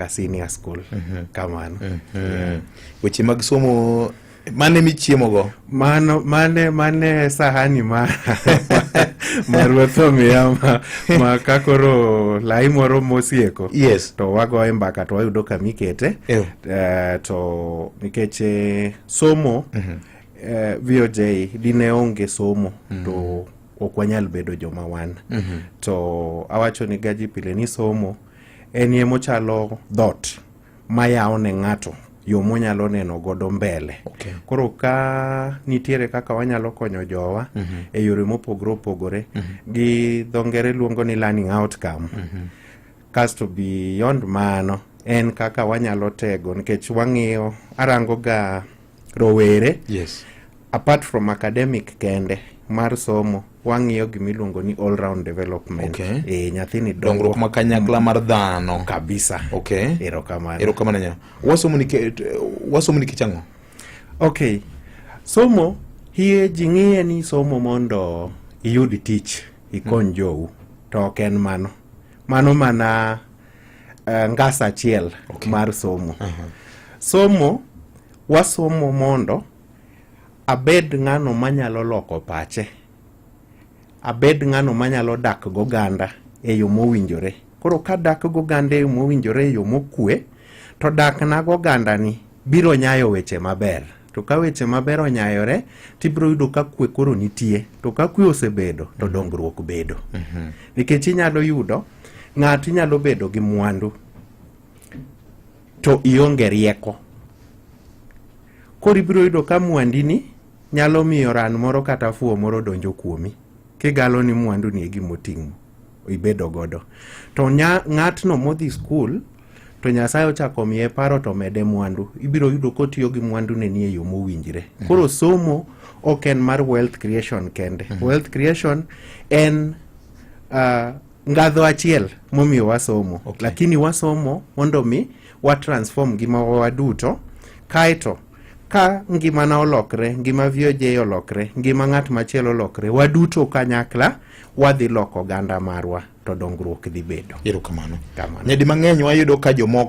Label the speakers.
Speaker 1: ka senior school mhm. kamano mhm.
Speaker 2: weche mag somo mane michiemogo mano mane mane
Speaker 1: sahani ma maruoth omiya ma, ma ka koro lai moro mosieko yes. to wagoye
Speaker 2: mbaka to
Speaker 1: wayudo kama ikete yeah. uh, to nikech eh, somo mm -hmm. uh, eh, voj dine onge somo mm -hmm. to ok wanyal bedo joma wan mm -hmm. to awacho ni gaji pile ni somo En ye mochalo dhot mayawo ne ng'ato yo monyalo neno godo mbele okay. koro ka nitiere kaka wanyalo konyo jowa mm -hmm. e yore mopogore opogore mm -hmm. gi dho ngere luongo ni learning outcome mm -hmm. kasto beyond mano en kaka wanyalo tego nikech wang'iyo arango ga rowere yes.
Speaker 2: apart from
Speaker 1: academic kende mar somo wang'iyo gima iluongo ni all round development okay. e, nyathini dongruok ma kanyakla
Speaker 2: mar dhano kabisa okay.
Speaker 1: erokamano
Speaker 2: erokamano nya wasomo ni wasomo ni kichang'o okay
Speaker 1: somo hie ji ng'iye ni somo mondo iyud tich ikony mm. jou to ok en mano mano mana uh, eh, ngas achiel okay. mar somo uh -huh. somo wasomo mondo abed ng'ano manyalo loko pache abed ng'ano manyalo dak goganda e yo mowinjore koro ka dak goganda e yo mowinjore e yo mokue to dak na goganda ni biro nyayo weche maber to ka weche maber onyayore tibiro yudo ka kwe koro nitie to ka kwe osebedo to mhm. dongruok bedo mhm. nikech inyalo yudo Ng'ato inyalo bedo gi mwandu to ionge rieko. Koro ibiro yudo ka mwandini nyalo miyo ran moro kata fuwo moro donjo kuomi kigalo ni mwandu ni e gima oting'o ibedo godo. To nya, ng'atno modhi skul to Nyasaye ochako miye paro to mede mwandu. Ibiro yudo kotiyo gi mwandu ne ni e yo mowinjre. Koro somo ok en mar wealth creation kende. Wealth creation en uh, ngadho achiel momiyo wasomo okay. Lakini wasomo mondo mi watransform ngimawa waduto kaeto ka ngimana olokre ngima VOJ olokre ngima ng'at machielo olokre waduto kanyakla wadhi loko oganda marwa
Speaker 2: to
Speaker 1: dongruok
Speaker 2: dhi
Speaker 1: bedo.
Speaker 2: Erokamano.
Speaker 1: Nyadi
Speaker 2: mang'eny
Speaker 1: wayudo
Speaker 2: ka
Speaker 1: jomoko